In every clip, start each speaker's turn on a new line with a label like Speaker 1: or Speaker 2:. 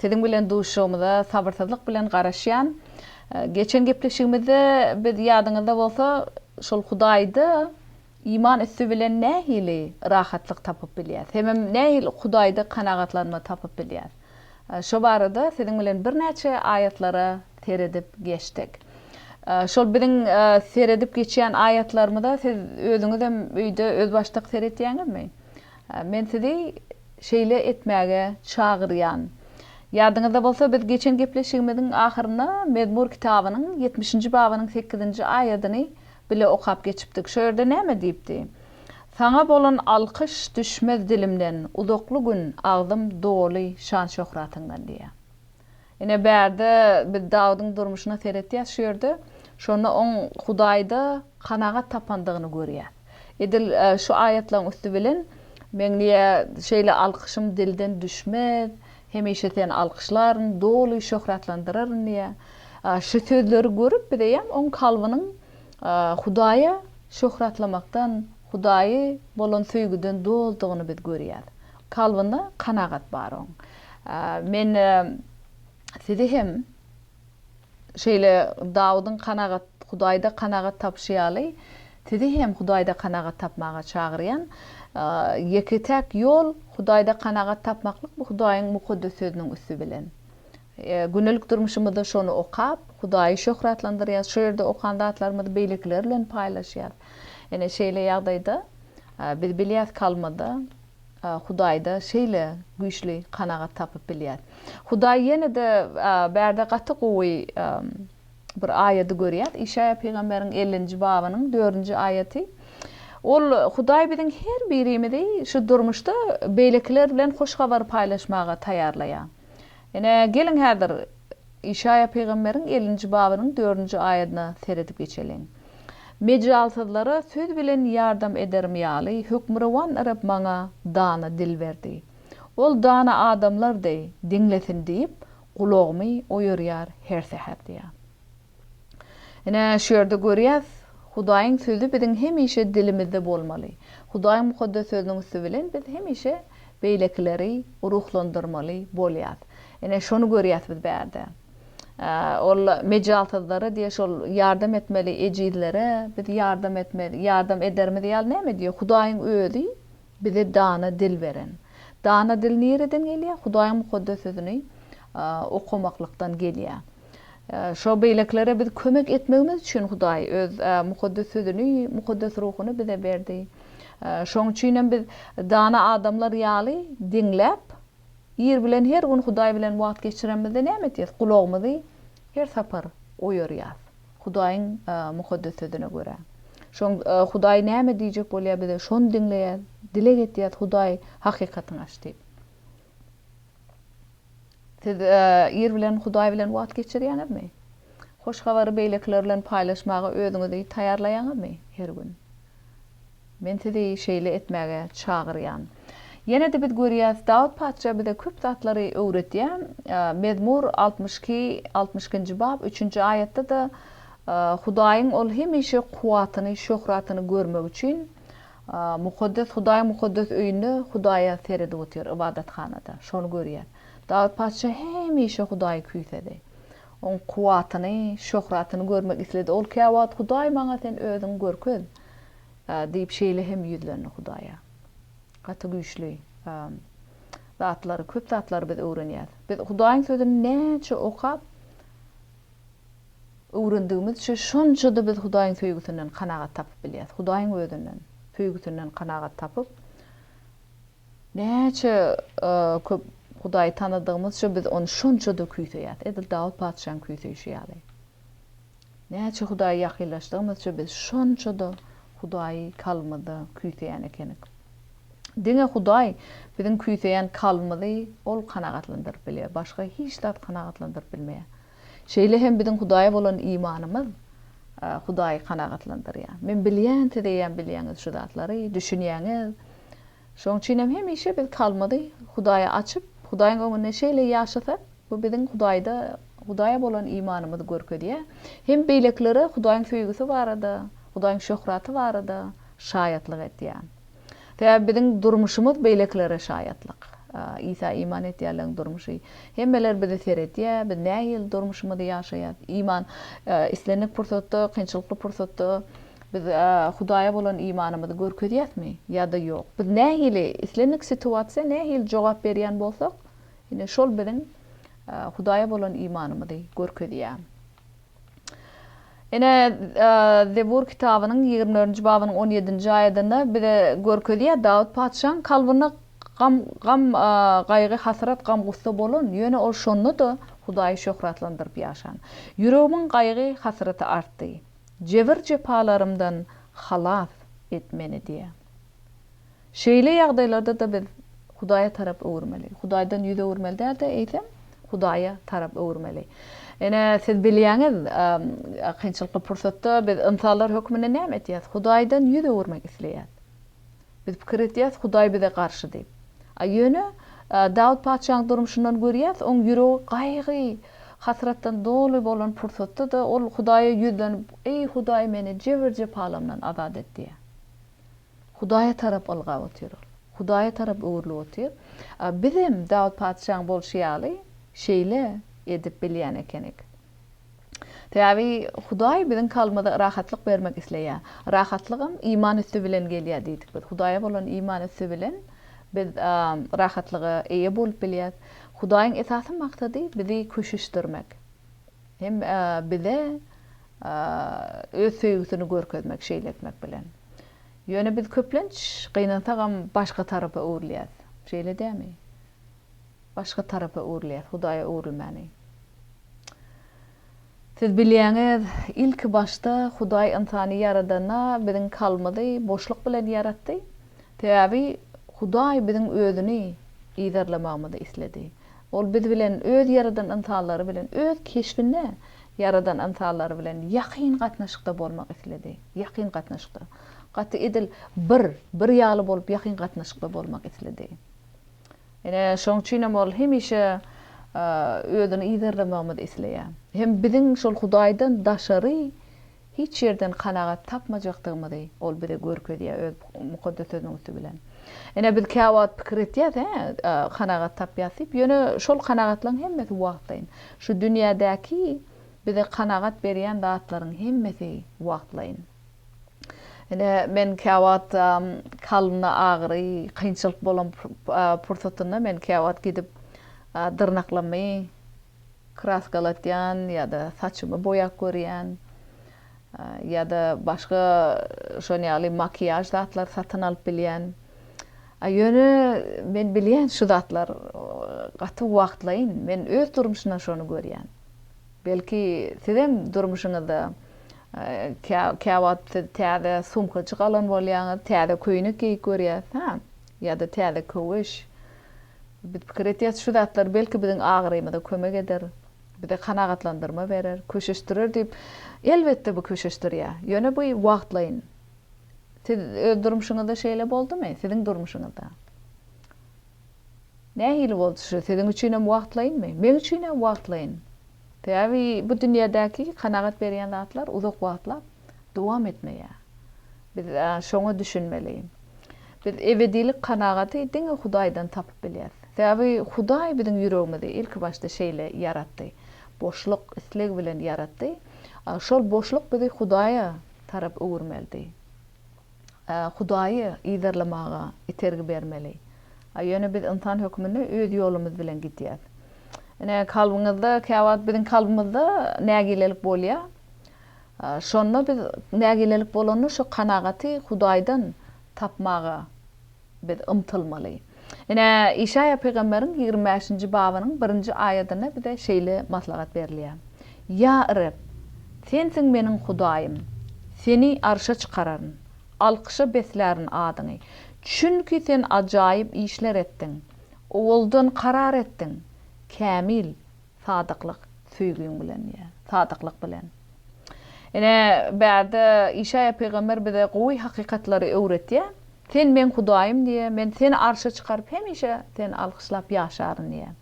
Speaker 1: Siziň bilen duşuşygymyza sabyrsyzlyk bilen garaşýan. Geçen gepleşigimizde biz ýadyňyzda bolsa şol Hudaýda iman üsti bilen nähili rahatlyk tapyp bilýäs? Hemem nähili Hudaýda kanagatlanma tapyp bilýäs? Şo barada siziň bilen birnäçe aýatlara seredip geçdik. Şol biziň seredip geçýän aýatlarymyza siz özüňizem öýde özbaşdak seretýäňizmi? Men sizi şeýle etmäge çagyrýan. Ýadyňyzda bolsa, biz geçen gepleşigimiziň ahyrynda Mezmur kitabynyň ýetmişinji babynyň sekizinji aýadyny bile okap geçipdik. Şo ýerde näme diýipdi? Saňa bolan alkyş düşmez dilimden, uzakly gün agzym doly şan-şöhratyňdan diýýär. Ine, bärde biz Dawudyň durmuşyna seretýäs şu ýerde. Şonda oň Hudaýda kanagat tapandygyny görýäs. Edil şu aýatlaryň üsti bilen, Meň niýe şeýle alkyşym dilden düşmez, hemişe Seni alkyşlaryn, doly şöhratlandyraryn diýýär. Şu sözleri görüp, biz eýýäm oň kalbynyň Hudaýa şöhratlamakdan, Hudaýy bolan söýgüden doldugyny biz görýäs. Kalbynda kanagat bar oň. Men sizi hem şeýle Dawudyň kanagat, Hudaýda kanagat tapyşy ýaly, sizi hem Hudaýda kanagat tapmaga çagyrýan. Ýeke-täk ýol Hudaýda kanagat tapmaklyk bu Hudaýyň Mukaddes Sözüniň üsti bilen. Gündelik durmuşymyzda şony okap, Hudaýy şöhratlandyrýarys, şo ýerde okan zatlarymyzy beýlekiler bilen paýlaşýarys. Ine, şeýle ýagdaýda biz bilýäris ki, almada, Hudaýda şeýle güýçli kanagat tapyp bilýär. Hudaý ýene-de bärde gaty gowy bir aýady görýär. Işaýa pygamberiň ellinji babynyň dördünji aýaty. Ol Hudaý biziň her birimizi şu durmuşda beýlekiler bilen hoş habary paýlaşmaga taýýarlaýar. Ine, geliň häzir, Işaýa pygamberiň ellinji babynyň dördünji aýadyna seredip geçeliň. Mejalsyzlara söz bilen ýardam ederim ýaly, Hökmürowan Reb maňa dana dil berdi. Ol dana adamlar deý, diňlesin diýip, gulagymy oýarýar her säher diýýär. Ine, şu ýerde görýäs, Hudaýyň Sözi biziň hemişe dilimizde bolmaly. Hudaýyň Mukaddes Sözüniň üsti bilen biz hemişe beýlekileri ruhlandyrmaly bolýas. Ine, şony görýäs biz bärde. Ol mejalsyzlara diýýär, şol ýardam etmeli ejizlere biz ýardam etmeli, ýardam ederimiz ýaly näme diýýär? Hudaýyň Özi bize dana dil beren. Dana dil nireden gelýär? Hudaýyň Mukaddes Sözüni okamaklykdan gelýär. Şo beýlekilere biz kömek etmegimiz üçin Hudaý Öz Mukaddes Sözüni, Mukaddes Ruhuny bize berdi. Şoň üçin hem biz dana adamlar ýaly diňläp, ir bilen her gün Hudaý bilen wagt geçiremizde näme etýäs? Gulagymyzy her sapar oýarýas. Hudaýyň Mukaddes Sözüne görä. Şoň Hudaý näme diýjek bolýar bize, şony diňleýäs, dileg etýäs, Hudaý hakykatyňy aç diýip. Siz ir bilen Hudaý bilen wagt geçirýäňizmi? Hoş habary beýlekiler bilen paýlaşmaga özüňizi taýýarlaýaňyzmy her gün? Men sizi şeýle etmäge çagyrýan. Ýene-de biz görýäs, Dawut patyşa bize köp zatlary öwredýär. Mezmur altmyş iki, altmyş ikinji bab, üçünji aýatda-da Hudaýyň ol hemişe kuwwatyny, şöhratyny görmek üçin Mukaddes Hudaýyň mukaddes öýünde Hudaýa seredip otyr, ybadathanada. Şony görýär. Dawut patyşa hemişe Hudaýy küýsedi. Oň kuwwatyny, şöhratyny görmek isledi. Ol käwagt, Hudaý, maňa Sen Özüňi görkez! diýip, şeýle hem ýüzlendi Hudaýa. Gaty güýçli zatlary, köp zatlary biz öwrenýäs. Biz Hudaýyň Sözüni näçe okap, öwrendigimizçe, şonça-da biz Hudaýyň söýgüsinden kanagat tapyp bilýäris. Hudaýyň Özünden, söýgüsinden kanagat tapyp, näçe köp Hudaýy tanadygymyzça, biz Ony şonça-da küýseýäris, edil Dawut patyşanyň küýseýşi ýaly. Näçe Hudaýa ýakynlaşdygymyzça, biz şonça-da Hudaýy kalbymyzda küýseýän ekenik. Diňe Hudaý biziň küýseýän kalbymyzy Ol kanagatlandyryp bilýär, başga hiç zat kanagatlandyryp bilmeýär. Şeýle hem biziň Hudaýa bolan imanymyz Hudaýy kanagatlandyrýar. Men bilýän, siz eýýäm bilýäňiz şu zatlary, düşünýäňiz. Şonuň üçin hem hemişe biz kalbymyzy Hudaýa açyp, Hudaýyň öňünde şeýle ýaşasak, bu biziň Hudaýda, Hudaýa bolan imanymyzy görkezýär. Hem beýlekilere Hudaýyň söýgüsi barada, Hudaýyň şöhraty barada şaýatlyk edýär. Sebäbi biziň durmuşymyz beýlekilere şaýatlyk. Isa iman edýänleriň durmuşy. Hemmeler bizi seredýär, biz nähili durmuşymyzy ýaşaýarys. Iman islendik pursatda, kynçylykly pursatda biz Hudaýa bolan imanymyzy görkezýäsmi ýa-da ýok. Biz nähili, islendik situasiýa nähili jogap berýän bolsak, ine şol biziň Hudaýa bolan imanymyzy görkezýär. Ine, Zebur kitabynyň ýigrimi dördünji babynyň on ýedinji aýadynda bize görkezýär, Dawut patyşaň kalbynda gam, gam, gaýgy, hasrat, gam-gussa bolan, ýöne ol şonda-da Hudaýy şöhratlandyryp ýaşan. Ýüregimiň gaýgy, hasraty artdy. Jebir-jepalarymdan halas et meni diýýär. Şeýle ýagdaýlarda-da biz Hudaýa tarap öwürmeli. Hudaýdan ýüz öwürmeli däl-de, eýsem, Hudaýa tarap öwürmeli. Ine, siz bilýäňiz, kynçylykly pursatda biz ynsanlar hökmünde näme etýäs? Hudaýdan ýüz öwürmek isleýäs. Biz pikir edýäs, Hudaý bize garşy diýip. A ýöne, Dawut patyşanyň durmuşyndan görýäs, onuň ýüregi gaýgy, hasratdan doly bolan pursatda-da, ol Hudaýa ýüzlenip, Eý, Hudaý, meni jebir-jepalarymdan azat et diýýär. Hudaýa tarap ylgap otyr. Hudaýa tarap öwrülip otyr. Bizem Dawut patyşaň bolşy ýaly şeýle edip bilýän ekenik. Sebäbi Hudaý biziň kalbymyza rahatlyk bermek isleýär. Rahatlygam iman üsti bilen gelýär diýdik biz. Hudaýa bolan iman üsti bilen biz rahatlyga eýe bolup bilýäs. Hudaýyň esasy maksady bizi köşeşdirmek. Hem bize öz söýgüsini görkezmek, şeýle etmek bilen. Ýöne biz köplenç gynansagam başga tarapa öwrülýäs. Şeýle dämi? Başga tarapa öwrülýäs, Hudaýa öwrülmäni. Siz bilýäňiz, ilki başda Hudaý ynsany ýaradanda biziň kalbymyzy boşluk bilen ýaratdy. Sebäbi Hudaý biziň özüni yzarlamagymyzy isledi. Ol biz bilen, Öz ýaradan ynsanlary bilen, Öz keşbinde ýaradan ynsanlary bilen ýakyn gatnaşykda bolmak isledi. Ýakyn gatnaşykda. Gaty edil bir, bir ýaly bolup ýakyn gatnaşykda bolmak isledi. Ine, şonuň üçin hem ol hemişe Özüni yzarlamagymyzy isleýär. Hem biziň şol Hudaýdan daşary Hiç ýerden kanagat tapmajakdygymyzy Ol bize görkezýär Öz Mukaddes Sözüniň üsti bilen. Ine, biz käwagt pikir etýäris, hä, kanagat tapýas diýip, ýöne şol kanagatlaryň hemmesi wagtlaýyn. Şu dünýädäki bize kanagat berýän zatlaryň hemmesi wagtlaýyn. Ine, men käwagt kalbymda agyry, kynçylyk bolan pursatynda men käwagt gidip dyrnaklamy, Kraskalatýan ýa-da saçymy boýap görýän ýa-da başga şon ýaly makiýaž zatlary satyn alyp bilýän. Ýöne men bilýän şu zatlar gaty wagtlaýyn. Men öz durmuşymda şony görýän. Belki sizem durmuşyňyzda käwagt siz täze sumkajyk alan bolýaňyz, täze köýnek geýip görýäs, hä? Ýa-da täze köwüş. Biz pikir edýäris, şu zatlar belki biziň agyrymyza kömek eder, bize kanagatlandyrma berer, köşeşdirer diýip. Elbetde bu köşeşdirýär, ýöne bu wagtlaýyn. Siz öz durmuşyňyzda şeýle boldumy? Siziň durmuşyňyzda nähili boldy? Şu siziň üçin hem wagtlaýynmy? Meň üçin-ä wagtlaýyn. Sebäbi bu dünýädäki kanagat berýän zatlar uzak wagtlap dowam etmeýär. Biz şoňa düşünmeli. Biz ebedilik kanagaty diňe Hudaýdan tapyp bilýäris. Sebäbi Hudaý biziň ýüregimizi ilkibaşda şeýle ýaratdy. Boşluk, isleg bilen ýaratdy. Şol boşluk bizi Hudaýa tarap öwürmelidi. Hudaýy yzarlamaga itergi bermeli. Ýöne biz ynsan hökmünde öz ýolumyz bilen gidýäris. Ine, kalbyňyzda, käwagt biziň kalbymyzda nägilelik bolýar. Şonda biz nägilelik bolanda şo kanagaty Hudaýdan tapmaga biz ymtylmaly. Ine, Işaýa pygamberiň ýigrimi bäşinji babynyň birinji aýadynda bize şeýle maslahat berilýär, Ýa Reb, Sensiň meniň Hudaýym, Seni arşa çykararyn, alkyşa beslärin adyňy, çünki Sen ajaýyp işler etdiň, owaldan karar etdiň, kämil, Sadyklyk söýgiň bilen diýýär. Sadyklyk bilen. Ine, bärde Işaýa pygamber bize gowy hakykatlary öwretýär. Sen Meň Hudaýym diýýär. Men seni arşa çykaryp, hemişe seni alkyşlap ýaşaryn diýýär.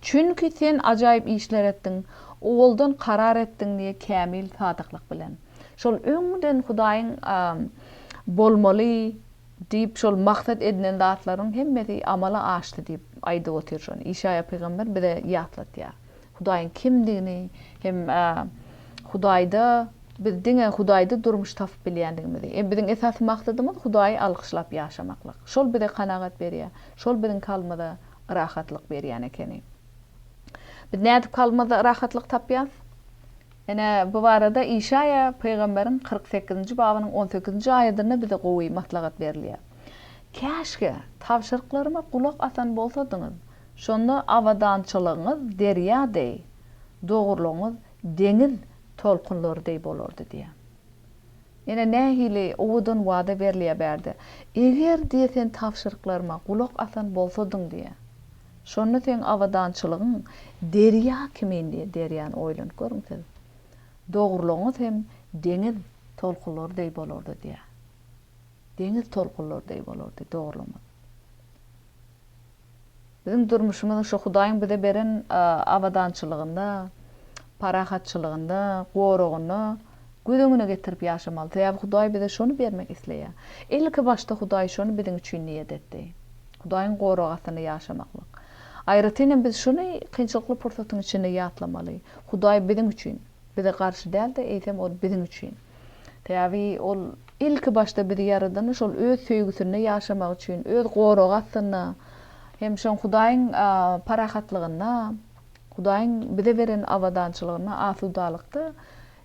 Speaker 1: Çünki sen ajaýyp işler etdiň, owaldan karar etdiň diýýär, kämil sadyklyk bilen. Şol öňden Hudaýyň bolmaly. Diýip, şol maksat edinen zatlaryň hemmesi amala aşdy diýip aýdyp otyr. Şony Işaýa pygamber bize ýatlatýar. Hudaýyň kimdigini hem Hudaýda biz diňe Hudaýda durmuş tapyp bilýändigimizi. Biziň esasy maksadymyz Hudaýy alkyşlap ýaşamaklyk. Şol bize kanagat berýär. Şol biziň kalbymyza rahatlyk berýän ekeni. Biz nädip kalbymyzda rahatlyk tapýarys? Ine, bu barada Işaýa pygamberiň kyrk sekizinji babynyň on sekizinji aýadynda bize gowy maslahat berilýär. Käşgä, tabşyryklaryma gulak asan bolsadyňyz, şonda abadançylygyňyz derýa deý, dogrulygyňyz deňiz tolkunlary deý bolardy diýýär. Ine, nähili owadan wada berilýär bärde, Eger, diýýär, sen tabşyryklaryma gulak asan bolsadyň diýýär. Şonda seň abadançylygyň derýa kimin diýýär, derýany oýlanyp görüň siz. Dogrulygyňyz hem deňiz tolkunlary deý bolardy diýýär. Deňiz tolkunlary deý bolardy dogrulygyňyz. Biziň durmuşymyzyň şu Hudaýyň bize beren abadançylygynda, parahatçylygynda, goragynda, göz öňüne getirip ýaşamaly. Sebäbi Hudaý bize şony bermek isleýär. Ilki başda Hudaý şony biziň üçin niýet etdi. Hudaýyň goragy astynda ýaşamaklyk. Aýratyn hem biz şuny kynçylykly pursatyň içinde ýatlamaly. Hudaý biziň üçin. Bize garşy däl-de, eýsem ol biziň üçin. Sebäbi ol ilki başda bizi ýaradany şol öz söýgüsinde ýaşamak üçin, öz goragy astynda hem şoň Hudaýyň parahatlygynda. Hudaýyň bize beren abadançylygynda asudalykda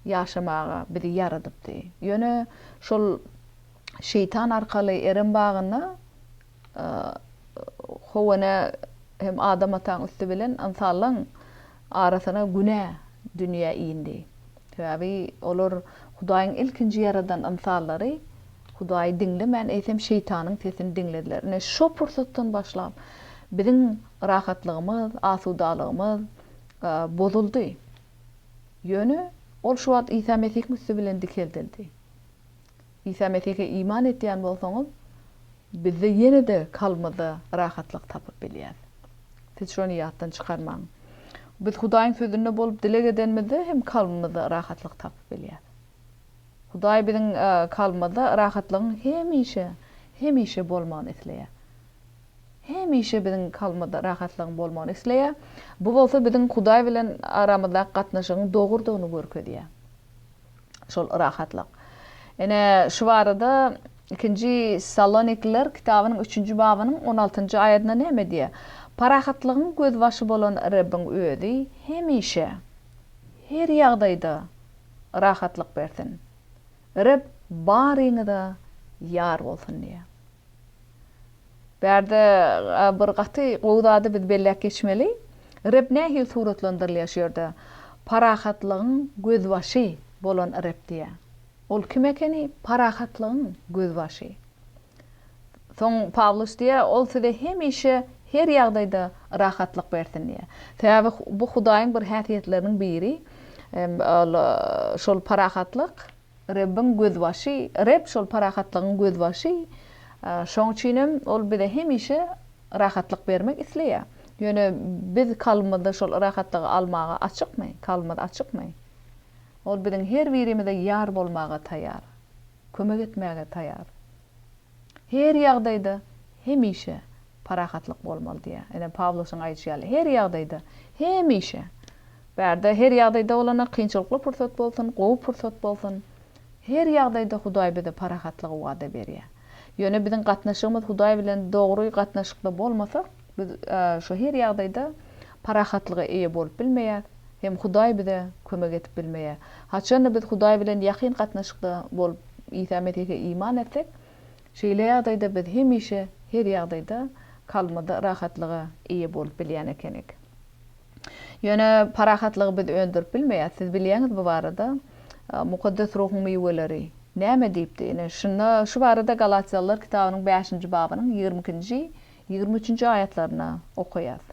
Speaker 1: ýaşamaga bizi ýaradypdy. Ýöne şol Şeýtan arkaly Erem bagynda Howene hem Adam ataň üsti bilen ynsanlaň arasyna günä dünýä indi. Sebäbi olar Hudaýyň ilkinji ýaradan ynsanlary Hudaýy diňlemän, eýsem, şeýtanyň sesini diňlediler. Ine, şo pursatdan başlap, biziň rahatlygymyz, asudalygymyz bozuldy. Ýöne ol şu wagt Isa Mesihiň üsti bilen dikeldildi. Isa Mesihe iman etýän bolsaňyz, bizde ýene-de kalbymyzda rahatlyk tapyp bilýäs. Siz şony ýatdan çykarmaň. Biz Hudaýyň Sözünde bolup dileg edenimizde hem kalbymyzda rahatlyk tapyp bilýäs. Hudaý biziň kalbymyzda rahatlygyň hemişe, hemişe bolmagyny isleýär. Hemişe biziň kalbymyzda rahatlygyň bolmagyny isleýär. Bu bolsa biziň Hudaý bilen aramyzdaky gatnaşygyň dogrudygyny görkezýär. Şol rahatlyk. Ine, şu barada Ikinji Salonikliler kitabynyň üçünji babynyň on altynjy aýadynda näme diýýär? Parahatlygyň gözbaşy bolan Rebbiň Özi hemişe, her ýagdaýda rahatlyk bersin. Reb baryňyza ýar bolsun diýýär. Bärde bir gaty gowy zady biz belläp geçmeli. Reb nähili suratlandyrylýar şu ýerde? Parahatlygyň gözbaşy bolan Reb diýýär. Ol kim ekeni? Parahatlygyň gözbaşy. Soň Pawlus diýýär, Ol size hemişe her ýagdaýda rahatlyk bersin diýýär. Sebäbi bu Hudaýyň bir häsiýetleriniň biri, ol şol parahatlyk. Rebbiň gözbaşy, Reb şol parahatlygyň gözbaşy, şoň üçinem Ol bize hemişe rahatlyk bermek isleýär. Ýöne biz kalbymyzda şol yrahatlygy almaga açykmy? Kalbymyz açykmy? Ol biziň her birimize ýar bolmaga taýar, kömek etmäge taýar. Her ýagdaýda, hemişe parahatlyk bolmaly diýýär. Ene Pawlusyň aýdyşy ýaly, her ýagdaýda, hemişe. Bärde her ýagdaýda bolanda kynçylykly pursat bolsun, gowy pursat bolsun, her ýagdaýda Hudaý bize parahatlygy wada berýär. Ýöne biziň gatnaşygymyz Hudaý bilen dogry gatnaşykda bolmasa, Biz şu her ýagdaýda parahatlyga eýe bolup bilmeýäs, hem Hudaý bize kömek edip bilmeýär. Haçanda biz Hudaý bilen ýakyn gatnaşykda bolup, Isa Mesihe iman etsek, şeýle ýagdaýda biz hemişe her ýagdaýda kalbymyzda rahatlyga eýe bolup bilýän ekenik. Ýöne parahatlygy biz öndürip bilmeýäs. Siz bilýäňiz bu barada Mukaddes Ruhuň miweleri näme diýipdi? Ine, şunda şu barada Galatýalylar kitabynyň bäşinji babynyň ýigrimi ikinji Ýigrimi üçünji aýatlaryna okaýas.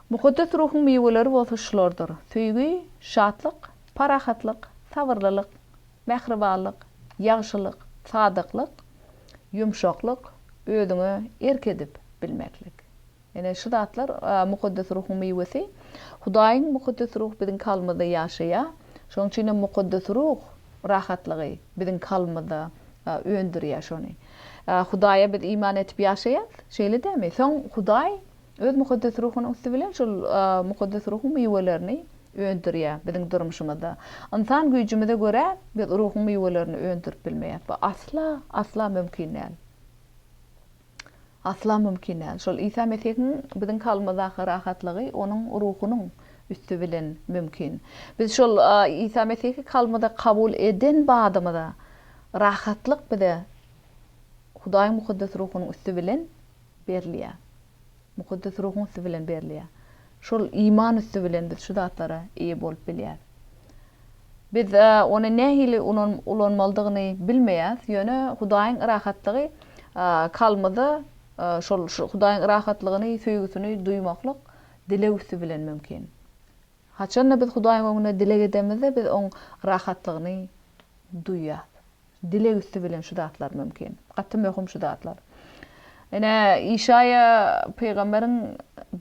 Speaker 1: Mukaddes ruhuň miweleri bolsa şulardyr, söýgi, şatlyk, parahatlyk, sabyrlylyk, mähribanlyk, ýagşylyk, sadyklyk, ýumşaklyk, özüňe erk edip bilmeklik. Ine, şu zatlar Mukaddes Ruhuň miwesi. Hudaýyň Mukaddes Ruhy biziň kalbymyzda ýaşaýar. Şonuň üçin hem Mukaddes Ruh rahatlygy biziň kalbymyzda öndürýär şony. Hudaýa biz iman edip ýaşaýarys, şeýle dälmi? Soň Hudaý Öz Mukaddes Ruhunyň üsti bilen şol Mukaddes Ruhuň miwelerini öndürýär biziň durmuşymyzda. Ynsan güýjümize görä, biz Ruhuň miwelerini öndürip bilmeýäs. Bu asla, asla mümkin däl. Asla mümkin däl. Şol Isa Mesihiň biziň kalbymyzdaky rahatlygy Onuň Ruhunyň üsti bilen mümkin. Biz şol Isa Mesihi kalbymyza kabul eden badymyza, Rahatlyk bize Hudaýyň Mukaddes Ruhunyň üsti bilen berilýär. Mukaddes Ruhuň üsti bilen berilýär. Şol iman üsti bilen biz şu zatlara eýe bolup bilýäris. Biz ony nähili ulanmalydygyny bilmeýäs, ýöne Hudaýyň rahatlygy kalbymyza şol Hudaýyň rahatlygyny, söýgüsini duýmaklyk dileg üsti bilen mümkin. Haçan-da biz Hudaýyň öňünde dileg edemizde, biz Oň rahatlygyny duýýas. Dileg üsti bilen şu zatlar mümkin. Gaty möhüm şu zatlar. Ine, Işaýa pygamberiň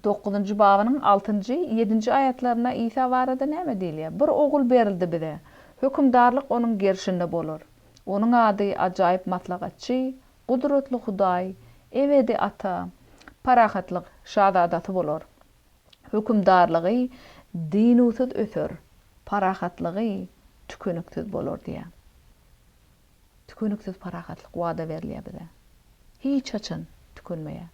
Speaker 1: dokuzynjy babynyň altynjy, ýedinji aýatlarynda Isa barada näme diýilýär? Bir Ogul berildi bize. Hökümdarlyk Onuň gerşinde bolar. Onuň ady Ajaýyp Maslahatçy, Gudratly Hudaý, Ebedi Ata, Parahatlyk Şazadasy bolar. hökümdarlygy dynuwsyz öser, parahatlygy tükeniksiz bolar diýýär. Tükeniksiz parahatlyk wada berilýär bize. Hiç haçan tükenmeýär.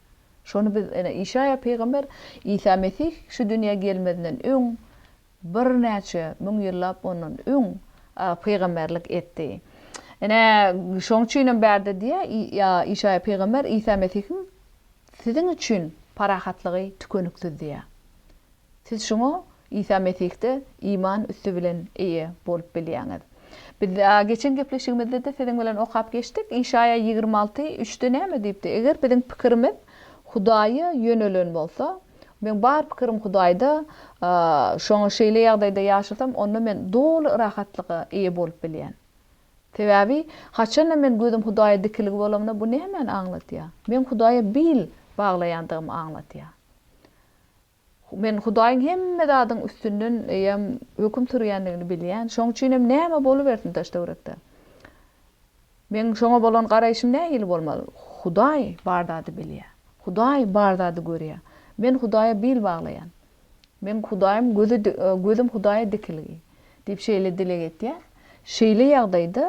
Speaker 1: Şony biz ene Işaýa pygamber Isa Mesih şu dünýä gelmezinden öň birnäçe müň ýyllap ondan öň pygamberlik etdi. Ene şoň üçinem bärde diýýär Işaýa pygamber Isa Mesihiň Siziň üçin parahatlygy tükeniksizdiýär. Siz şuňa Isa Mesihde iman üsti bilen eýe bolup bilýäňiz. Biz geçen gepleşigimizde-de siziň bilen okap geçdik, Işaýa ýigrimi alty, üçde näme diýipdi? Eger biziň pikirimiz Hudaýa ýönelen bolsa, Meň bar pikirim Hudaýda, şoňa şeýle ýagdaýda ýaşasam, onda men doly rahatlyga eýe bolup bilýän. Sebäbi, haçan-da men gözüm Hudaýa dikilgi bolamda, bu nämäni aňladýar? Meň Hudaýa bil baglaýandygymy aňladýar. Men Hudaýyň hemme zadyň üstünden eýýäm höküm sürýändigini bilýän. Şoň üçin hem näme bolubersin daş-töwerekde? Meň şoňa bolan garaýşym nähili bolmaly? Hudaý bar zady bilýär. Hudaý bar zady görýär. Men Hudaýa bil baglaýan. Meň Hudaýym gözi gözüm Hudaýa dikilgi, diýip şeýle dileg etýär. Şeýle ýagdaýda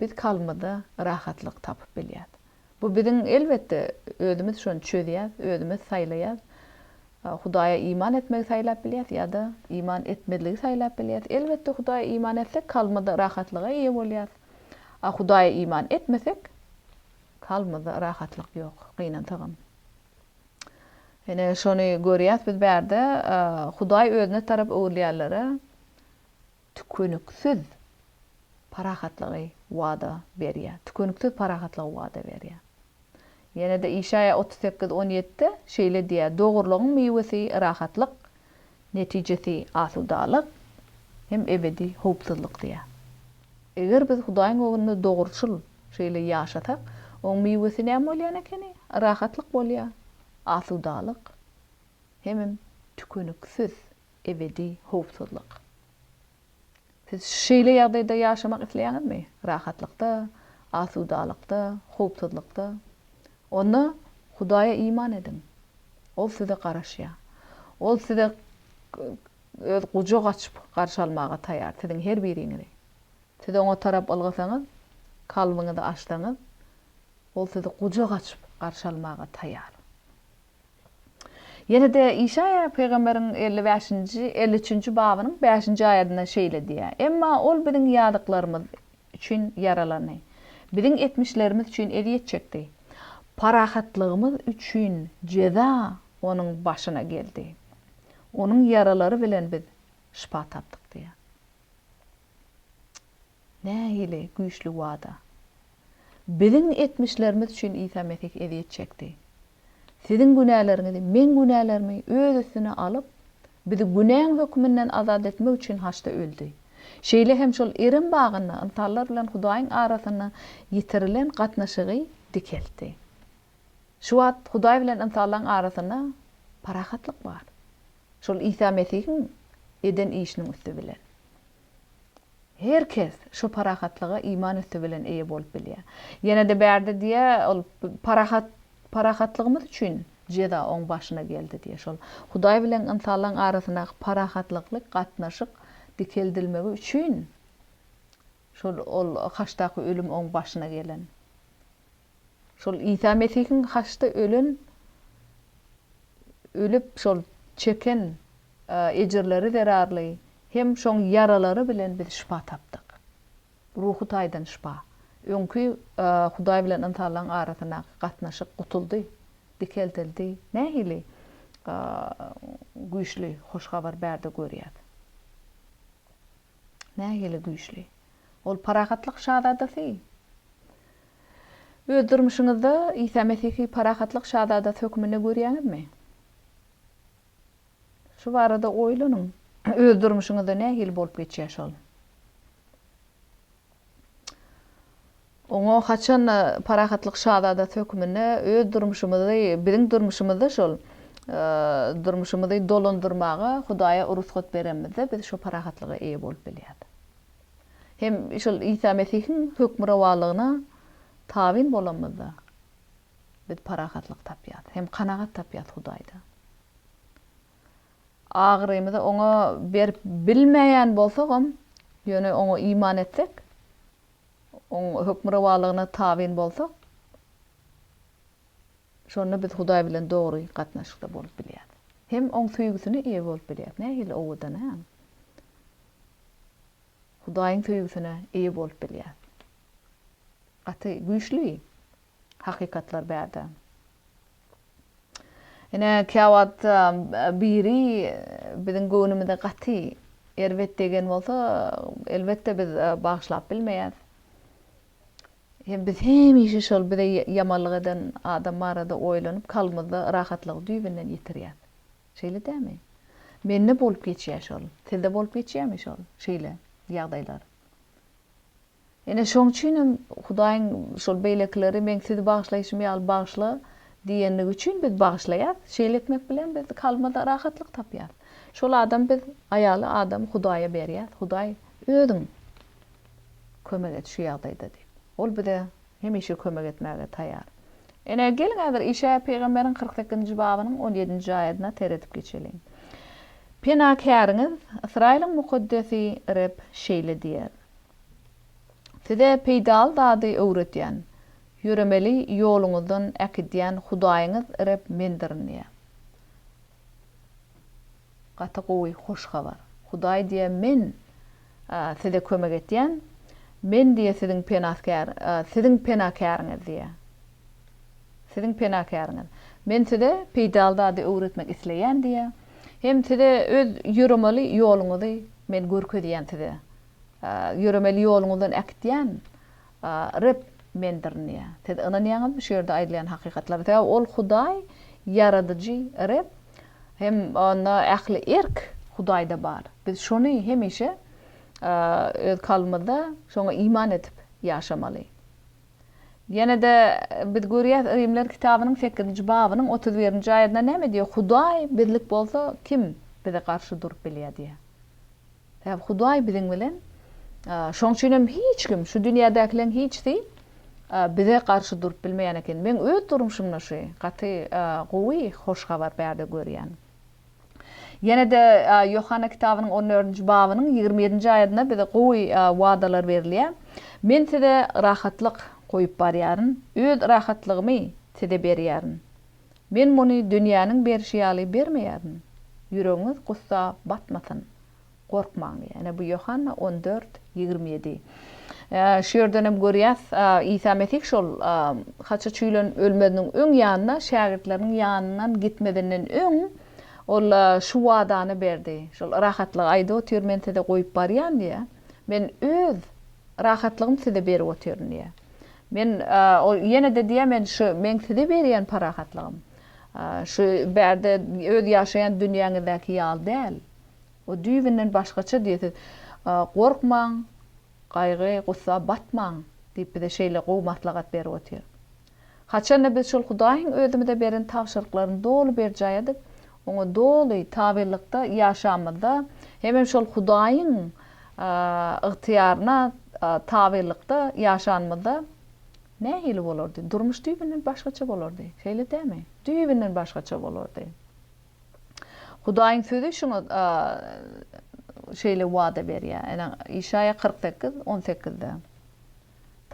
Speaker 1: biz kalbymyzda rahatlyk tapyp bilýäs. Bu biziň elbetde özümiz şony çözýäs, özümiz saýlaýas. Hudaýa iman etmegi saýlap bilýäs ýa-da iman etmezligi saýlap bilýäs. Elbetde Hudaýa iman etsek kalbymyzda rahatlyga eýe bolýas. A Hudaýa iman etmesek kalbymyzda rahatlyk ýok, gynansagam. Ine, şony görýäs biz bärde, Hudaý özüne tarap öwrülýänlere tükeniksiz parahatlygy wada berýär. Tükeniksiz parahatlygy wada berýär. Ýene-de Işaýa otuz sekiz on ýedide şeýle diýýär, Dogrulygyň miwesi rahatlyk, Netijesi asudalyk hem ebedi howpsuzlyk diýýär. Eger biz Hudaýyň öňünde dogruçyl şeýle ýaşasak, oň miwesi näme bolýan ekeni? Rahatlyk bolýar, asudalyk hemem tükeniksiz ebedi howpsuzlyk. Siz şeýle ýagdaýda ýaşamak isleýäňizmi? Rahatlykda, asudalykda, howpsuzlykda? Onda Hudaýa iman ediň. Ol size garaşýar. Ol size Öz gujak açyp garşy almaga taýýar, siziň her biriňizi. Siz Oňa tarap ylgasaňyz, kalbyňyzy açsaňyz, Ol sizi gujak açyp garşy almaga taýýar. Ýene-de Işaýa pygamberiň elli bäşinji, elli üçünji babynyň bäşinji aýadynda şeýle diýýär, Emma Ol biziň ýazyklarymyz üçin ýaralandy, biziň etmişlerimiz üçin ezýet çekdi, parahatlygymyz üçin jeza Onuň başyna geldi, Onuň ýaralary bilen biz şypa tapdyk diýýär. Nähili güýçli wada! Biziň etmişlerimiz üçin Isa Mesih ezýet çekdi. Siziň günäleriňizi, meň günälerimi öz üstüne alyp, bizi günäň höküminden azat etmek üçin haçda öldi. Şeýle hem şol Erem bagynda ynsanlar bilen Hudaýyň arasynda ýitirilen gatnaşygy dikeltdi. Şu wagt Hudaý bilen ynsanlaryň arasynda parahatlyk bar. Şol Isa Mesihiň eden işiniň üsti bilen. Her kes şu parahatlyga iman üsti bilen eýe bolup bilýär. Ýene-de bärde diýýär, ol parahat, parahatlygymyz üçin jeza oň başyna geldi diýýär. Şol Hudaý bilen ynsanlaryň arasyndaky parahatlykly gatnaşyk dikeldilmegi üçin şol ol haçdaky ölüm oň başyna gelen. Şol Isa Mesihiň haçda ölen, ölüp, şol çeken ejirleri zerarly hem şoň ýaralary bilen biz şypa tapdyk. Ruhy taýdan şypa. Öňki Hudaý bilen ynsanlaryň arasyndaky gatnaşyk gutuldy, dikeldildi. Nähili güýçli hoş habar bärde görýäs. Nähili güýçli. Ol parahatlyk şazadasy. Öz durmuşyňyzda Isa Mesihi parahatlyk şazadasy hökmünde görýäňizmi? Şu barada oýlanyň. Öz durmuşyňyzda nähili bolup geçýär şol? Oňa haçan-da parahatlyk şazadasy hökmünde öz durmuşymyzy, biziň durmuşymyzda şol durmuşymyzy dolandyrmaga Hudaýa rugsat berenimizde biz şo parahatlyga eýe bolup bilýäs. Hem şol Isa Mesihiň hökmürowanlygyna tabyn bolanymyzda, biz parahatlyk tapýarys, hem kanagat tapýarys Hudaýda. Agyrymyzy Oňa berip bilmeýän bolsagam, ýöne Oňa iman etsek, Oň hökmürowanlygyna tabyn bolsak, şonda biz Hudaý bilen dogry gatnaşykda bolup bilýäris. Hem Oň söýgüsine eýe bolup bilýäris. Nähili owadan-a! Hudaýyň söýgüsine eýe bolup bilýär. Gaty güýçli hakykatlar bärde. Ine, käwagt biri biziň göwnümize gaty erbet degen bolsa, elbetde biz bagyşlap bilmeýäs. Hem biz hemişe şol bize ýamanlyk eden adam barada oýlanyp, kalbymyzda yrahatlygy düýbünden ýitirýäs. Şeýle dämi? Mende bolup geçýä şol. Sizde bolup geçýämi şol şeýle ýagdaýlar? Ine şoň üçinem Hudaýyň şol beýlekileri meň sizi bagyşlaýşym ýaly bagyşla diýenligi üçin biz bagyşlaýas. Şeýle etmek bilen biz kalbymyzda rahatlyk tapýas. Şol adam biz aýaly adam Hudaýa berýäs. Hudaý özüň kömek et şu ýagdaýda diýip. Ol bize Hemişe kömek etmäge taýar. Ine, geliň häzir Işaýa pygamberiň kyrk sekizinji babynyň on ýedinji aýadyna seredip geçeliň. Penakäriňiz, Ysraýylyň Mukaddesi Reb şeýle diýýär, Size peýdaly zady öwredýän, ýöremeli ýoluňyzdan äkidýän Hudaýyňyz Reb Mendirin diýýär. Gaty gowy hoş habar. Hudaý diýe men size kömek etýän, men diýe siziň penasgär, siziň penakäriňiz diýe. Siziň penakäriňiz. Men size peýdaly zady öwretmek isleýän diýe. Hem size öz ýöremeli ýoluňyzy men görkezýän size. Ýöremeli ýoluňyzdan äkitýän. Reb mendir ynýa. Siz ynanýaňyzmy şu ýerde aýdylýan hakykatlara? Sebäbi ol Hudaý, Ýaradyjy Reb hem onda ähli erk Hudaýda bar. Biz şony hemişe öz kalbymyzda şoňa iman edip ýaşamaly. Ýene-de biz görýäs Rimler kitabynyň sekizinji babynyň otuz birinji aýadynda näme diýýär? Hudaý bizlik bolsa kim bize garşy durup bilýär diýýär. Sebäbi Hudaý biziň bilen. Şonuň üçin hem hiç kim, şu dünýädäkileriň hiçsi bize garşy durup bilmeýän eken. Meň öz durmuşymda şu gaty gowy hoş habar bärde görýän. Ýene-de Ýohanna kitabynyň on dördünji babynyň ýigrimi ýedinji aýadynda bize gowy wadalar berilýär. Men size rahatlyk goýup barýaryn, öz rahatlygymy size berýärin. Men muny dünýäniň berşi ýaly bermeýärin. Ýüregiňiz gussa batmasyn. Gorkmaň diýýär. Ine, bu Ýohanna on dört, ýigrimi ýedi. Şu ýerdenem görýäs, Isa Mesih şol haça çüýlen ölmeziniň öň ýanyna şägirtleriniň ýanyndan gitmezinden öň, ol şu wadany berdi. Şol rahatlygy aýdyp otyr, Men size goýup barýan diýýär. Men Öz rahatlygym size berip otyryn diýýär. Men ol ýene-de diýýär, men şu meň size berýän parahatlygym, şu bärde öz ýaşaýan dünýäňizdäki ýaly däl. O düýbünden başgaça diýýär. Siz gorkmaň, gaýgy, gussa batmaň diýip bize şeýle gowy maslahat berip otyr. Haçan-da biz şol Hudaýyň özümize beren tabşyryklaryny doly berjaý edip, Oňa doly tabylykda ýaşamyzda hemem şol Hudaýyň ygtyýaryna tabylykda ýaşanymyzda nähili bolardy? Durmuş düýbünden başgaça bolardy. Şeýle dälmi? Düýbünden başgaça bolardy. Hudaýyň Sözi şuňa şeýle wada berýär. Ine, Işaýa kyrk sekiz, on sekizde.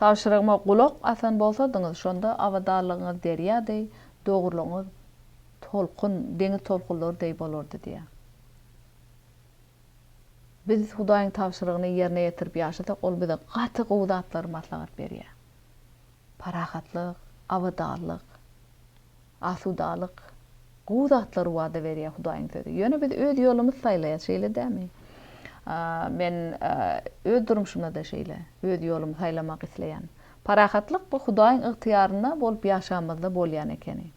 Speaker 1: Tabşyrygyma gulak asan bolsadyňyz, şonda abadanlygyňyz derýa deý, dogrulygyňyz tolkun, deňiz tolkunlary deý bolardy diýýär. Biz Hudaýyň tabşyrygyny ýerine ýetirip ýaşasak, ol bize gaty gowy zatlary maslahat berýär. Parahatlyk, abadanlyk. Asudalyk, gowy zatlary wada berýär Hudaýyň sözi. Ýöne biz öz ýolumyzy saýlaýas, şeýle dämi? Men öz durmuşymda-da şeýle, öz ýolumy saýlamak isleýän. Parahatlyk bu Hudaýyň ygtyýarynda bolup ýaşamyzda bolýan ekeni.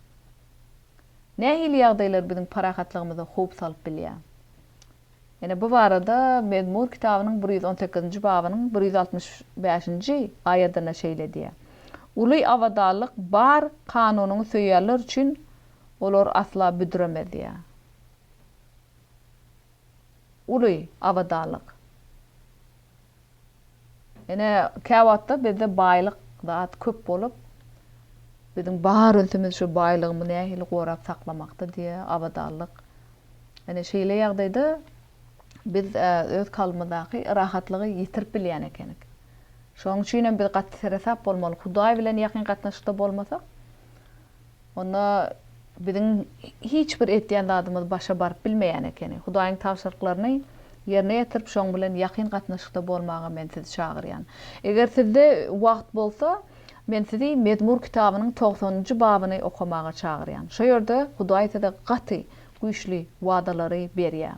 Speaker 1: Nähili ýagdaýlar biziň parahatlygymyza howp salyp bilýär? Ýene bu barada Mezmur kitabynyň bir ýüz on sekizinji babynyň bir ýüz altmyş bäşinji aýadynda şeýle diýýär, Uly abadanlyk bar kanunyňy söýýänler üçin olar asla büdremez diýýär. Uly abadanlyk. Ine, käwagtda bizde baýlyk zat köp bolup, biziň bar ünsümiz şu baýlygymy nähili gorap saklamakda diýe, abadanlyk. Ine, şeýle ýagdaýda biz öz kalbymyzdaky rahatlygy ýitirip bilýän ekenik. Şonuň üçinem biz gaty seresap bolmaly. Hudaý bilen ýakyn gatnaşykda bolmasak, Onda biziň hiç bir etýän zadymyz başa baryp bilmeýän ekeni. Hudaýyň tabşyryklaryny ýerine ýetirip, şoň bilen ýakyn gatnaşykda bolmaga men sizi çagyrýan. Eger sizde wagt bolsa, men sizi Mezmur kitabynyň togsanynjy babyny okamaga çagyrýan. Şo ýerde Hudaý size gaty güýçli wadalary berýär.